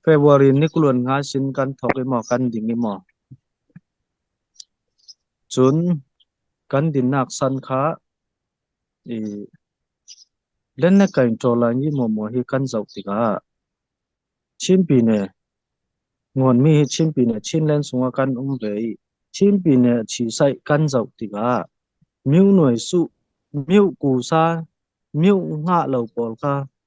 February nikuluan nga sin kan thawk i maw kan ding i maw, cun kan dinnak san kha i len na kai ṭaw lai i maw hi kan zoh tikah Chinpi ne ngonmi hi Chinpi ne Chinland sungah kan um ve i Chinpi ne chisaih kan zoh tikah miu nuai suh, miu ku sa, miu ngah lo pawl kha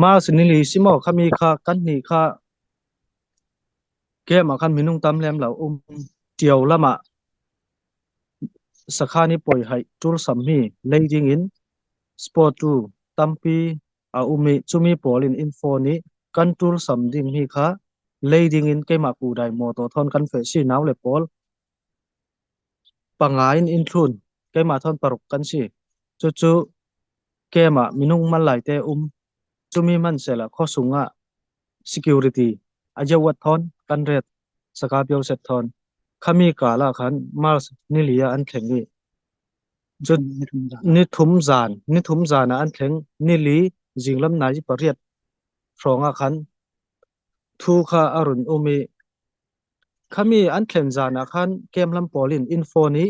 Mask ni li si maw khami kha kan hnih kha game ah khan minung tam lem lo um ṭio lam ah sakhan i poihaih ṭul sammi leiding in sport tu tampi a um i chumi pawl in info nih kan ṭul sam dingmi kha leiding in keimah Pu Dai Moto thawn kan feh sinau le pawl Panga in innhlun, keimah thawn paruk kan si. Cucu keimah minung man laite um. Cumi hmanhselah khuasung ah security a jeuat thawn kan ret. Saka pio set thawn. Khami kala khan Mars nili ah an thleng i. Cun nithum zan, nithum zan ah an thleng. Nili zinglam nai i pariat hrawng ah khan Thu kha a run um i khami an thlen zan ah khan keimlam pawl in in phone i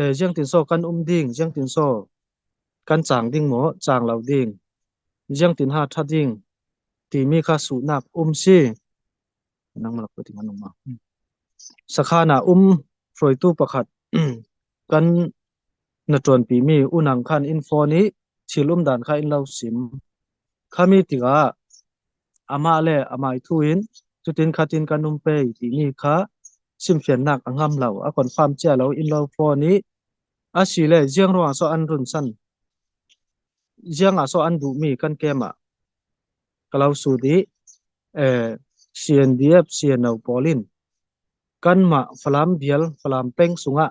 e, jiang tin so kan um ding jiang tin so kan cang ding maw cang lo ding jiang tin ha tha ding timi kha suhnak um si nang la pati anung ma sakha na um hruaitu pakhat kan Na ṭuanpimi unang kha in fawn i thilum dan kha in lo sim. Khami tikah amah le amah i thu in cutin khatin kan um pei timi kha chimfiannak a ngam lo. A confirm cia lo in lo fawn i asile ziang ruangah sawh an runsan, ziangah sawh an duhmi kan kem ah ka lo sut i CNDF, CNO pawl in kanmah Falam vial, Falam peng sungah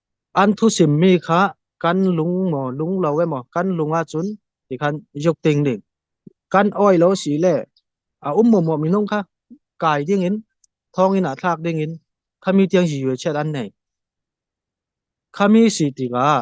An thusimmi kha kan lung maw lung lo emaw kan lung ahcun ti khan iuk ting ding. Kan awi lo si le a um mawmaw minung kha kai ding in thong in a thlak ding in khami tiang yue chiat an nei. Khami si tikah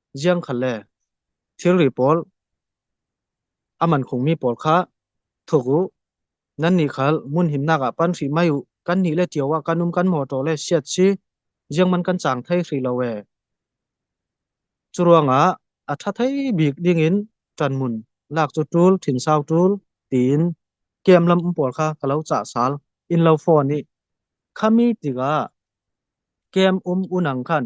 Ziangkhal le thilri pawl a man khungmi pawl kha thuk u. Nannih khal mun himnak ah pan hri mai u. Kan nih le ṭio ah kan um kan mawṭaw le siat si ziangman kan cang thai hri lo ee. Curuangah a ṭha thai bik dingin ṭanmun lak cu ṭul thin sau ṭul tiin kem lam pawl kha ka lo cah sal in lo fawn i khami tikah kem um unang khan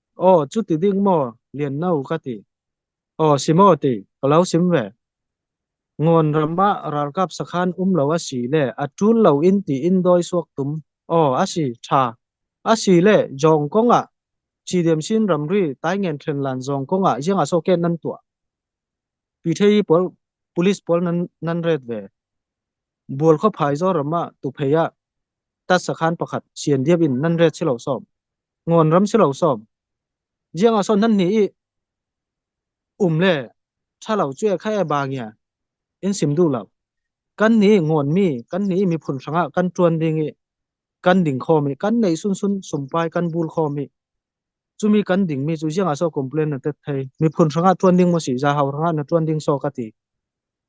Aw, cuti ding maw, lian no ka ti. Aw, si maw ti, ka lo sim ve. Ngon ram ah ralkap sakhan um lo asi le atul lo in ti in doi suak tum. Aw, asi, tha. Asi le, jong kong ah, chi dem sin ramri tai ngen tren lan jong kong ah, jeng aso ken nan tua. Pi thei pol, polis pol nan, nan red ve. Buol kho phai zo rama tu pheya. Tas sakhan pakhat, sien diab in nan red silo som. Ngon ram si lo som. Jiang a son nan ni i um le thalo cu e khai ba ngia in sim du lo. Kan ni ngon mi, kan ni mi phun hranga kan tuan ding i kan ding khom i kan nei sun sun sumpai kan bul khom i chumi kan ding mi cu jiang a so complain na tet thei mi phun hranga tuan ding mo si za hau hranga na tuan ding so ka ti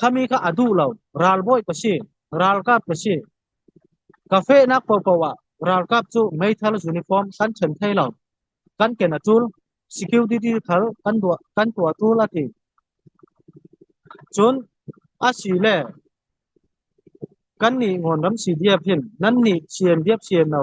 Khami kha a duh lo. Ralbawi ka si. Ralkap ka si. Ka fehnak paohpaoh ah ralkap cu meithal uniform kan ṭhen thai lo. Kan ken a ṭul. Security thal kan tuah, kan tuah a ṭul a ti. Cun asile kannih Ngon ram CDF hin nannih sian diap sian lo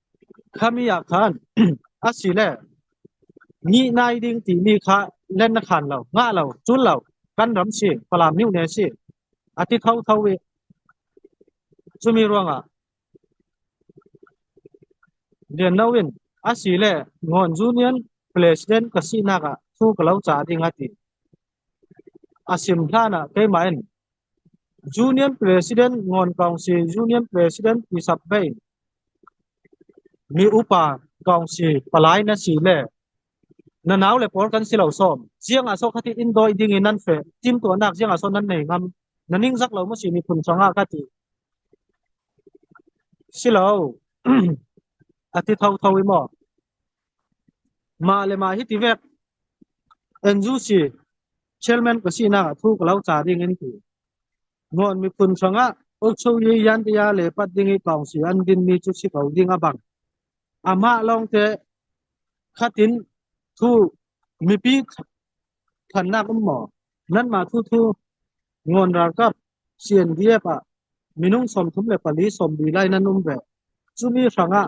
Khami ah khan asile nih nai ding timi kha len na khan lo, ngah lo, cul lo, kan ram si, Falam nu ne si, a ti thotho i cumi ruangah lian lo in asile Ngon Union president ka sinak ah thu ka lo ca ding a ti. A sim hlan ah keimah in Union President Ngon Kaung Si Union President Pyisap Vei Mi upa Kaung Si palai na si le na nau le pawl kan si lo sawm. Ziangah sawh khati in dawi ding i nan feh timtuahnak ziangah sawh nan nei ngam. Na ningzak lo ma si miphun sangah ka ti. Si lo. A ti thotho i maw? Mah le mah hiti vek NUC chairman ka sinak ah thu ka lo ca ding an ti. Nuan miphun hrangah Ucho Ye Yantiya le Pat Ding i Tawngsi an dinmi cu si ko ding a bang. Amah lawngte khatin thu mipi thannak um maw nanmah thu thu ngon ralkap CNDF ah minung som thum le pali som bi lai nan um ve. Cumi hrangah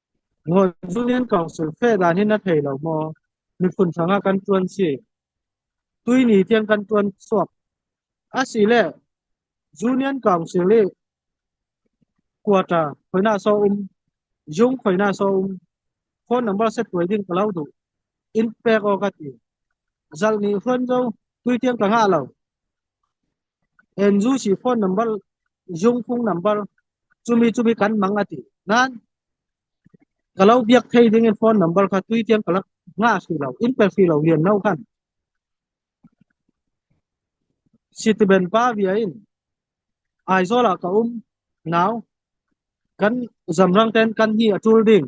North Union Council fehlan hi na thei lo maw? Miphun hrang ah kan ṭuan si. Tuini tiang kan ṭuan suak. Asile Union Council i quarter khoina so um jung khoina so um phone number set tuai ding ka lo du in pek o ka ti zal ni hruan zo tui tiang ka nga lo Enzu si phone number, zungphung number, cumi cumi kan mang a ti. Nain, ka lo biak thei ding in phone number kha tui tiang ka rak nga si lo, in pe si lo lian no kan. Sitiben pa via in, Aizawl ah ka um, now, kan zamrang ten kan hi a tul ding.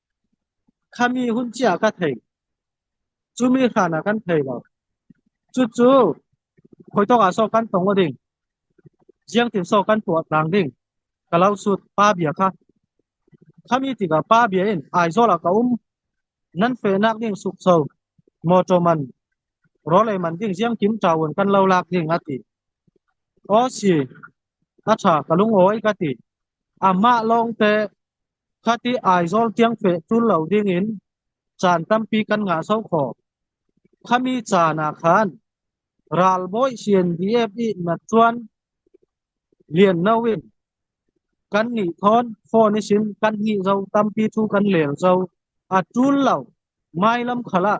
Khami hun chia ka thei. Cumi hlan ah kan thei lo. Cucu khoitok ah sawh kan tong u ding. Ziangtin sawh kan tuah tlang ding. Ka lau sut pa bia kha. Khami tikah pa bia in Aizawl ah ka um. Nan fehnak ding sukso. Mawṭaw man, rawlei man ding ziang kim ṭaun kan lo lak ding a ti. Aw si, a ṭha ka lungawi ka ti. Amah lawngte Khati Aizawl tiang feh tul lo dingin caan tampi kan ngah sawh khawh. Khami caan ah khan ralbawi CNDF i na tuan lianno in kan nih thawn phone i sin kan hnih zo tampi cu kan leng zo. A tul lo. Mailam khal ah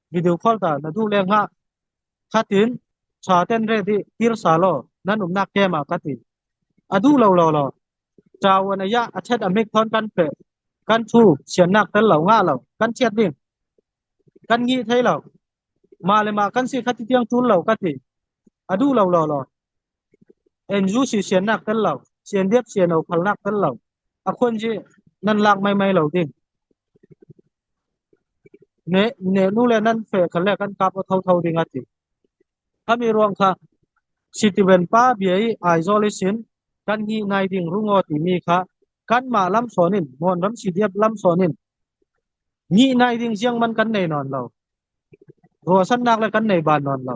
Video call ta na du le nga khatin tha ten re di tir sa lo nan um nak kem a kati adu lo lo lo chawan aya achet amik thon kan pe kan thu sian nak tel lo nga lo kan chiat ding kan ngi thei lo ma le ma kan si khati tiang tul lo kati adu lo lo lo enju si sian nak tel lo sian diep sian no phal nak tel lo akhon ji nan lak mai mai lo ding Nenu le nan fe kha le kan kap aw thotho ding a ti. Khami ruang kha Sitiven pa bia i Aizawl i sin kan ni nai ding rungo timi kha kanmah lamsawn in Mon ram CDF lamsawn in ni nai ding ziang man kan nei nawn lo. Ruahsannak le kan nei ban nawn lo.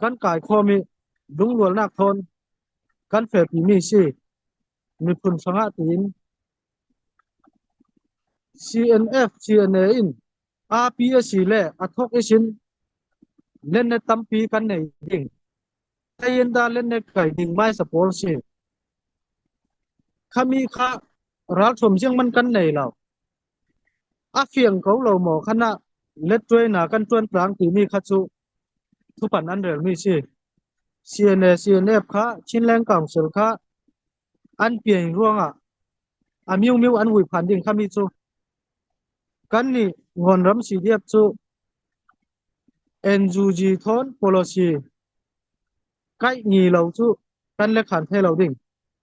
Kan kai khomi lungrualnak thawn kan felpimi si. Miphun hrangah tiin CNF CNA in api a si le a thok isin lennet tampi kan nei ding. Tayin da lennet kai ding mai sa pawl si. Khami kha ral chom jiang man kan nei lo. A fiang ko lo mo khana let tuai na kan tuan tlang ti mi kha chu Thupan an relmi si. CNA CNF kha Chinland Council kha an pian ruangah a miummiu an vui phan ding khami cu kannih Ngawn ram CDF cu NUG thawn policy kaih ngi lo cu kan le khan thai lo ding.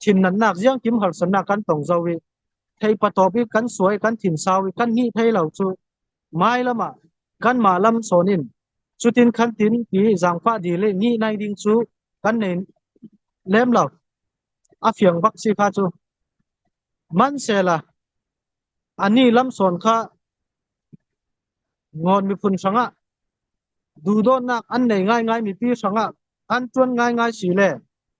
Thinnannak ziangkim harsatnak kan tong zau i theipatawp i kan suai kan thin sau i kan nih thei lo cu mai lam ah kanmah lam sawn in cutin khan tin ti zaangfah di le nih nai ding cu kan nei lem lo a fiang bak si kha cu manhsela ani lam sawn kha ngon miphun hrangah duhdawtnak an nei ngaingai mi pi hrangah an tuan ngaingai si le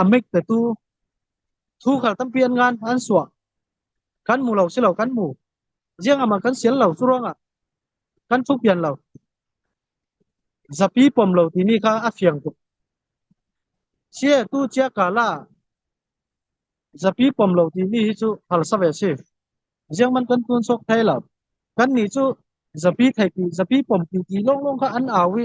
a mek te tu thu khal tampi an ngan an sua kan mu lo si lo kan mu riêng ama kan sial lo suranga kan thu pian lo zapi pom lo ti ni kha a fiang tuk sia tu chia kala zapi pom lo ti ni hi chu phal save si riêng man kan tuan sok thai lo kan ni chu zapi thai pi zapi pom pi ti long long kha an awi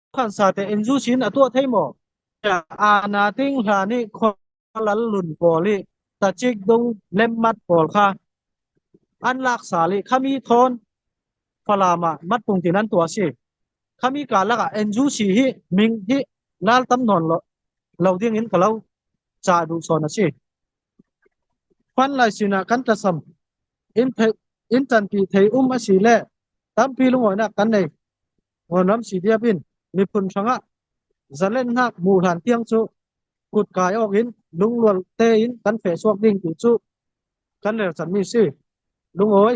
khansa tein zu sin a tuah thei maw tiah aana ting hla nih khualal lun pawl i tacik dung lemmat pawl kha an lak sa li khami thawn falam ah mat pung tin an tua si khami ka lak ah enzu si hi ming hi lal tam non lo lo ding in kalo cha du son asi fan lai sina kan tasam in the in tan ti thei um asi le tampi lungoina kan nei Hnawnam si diap in miphun hrangah zalennak mu hlan tiang cu kut kai awk in lunglual tein kan feh suak ding tu cu kan rel canmi si. Lungawi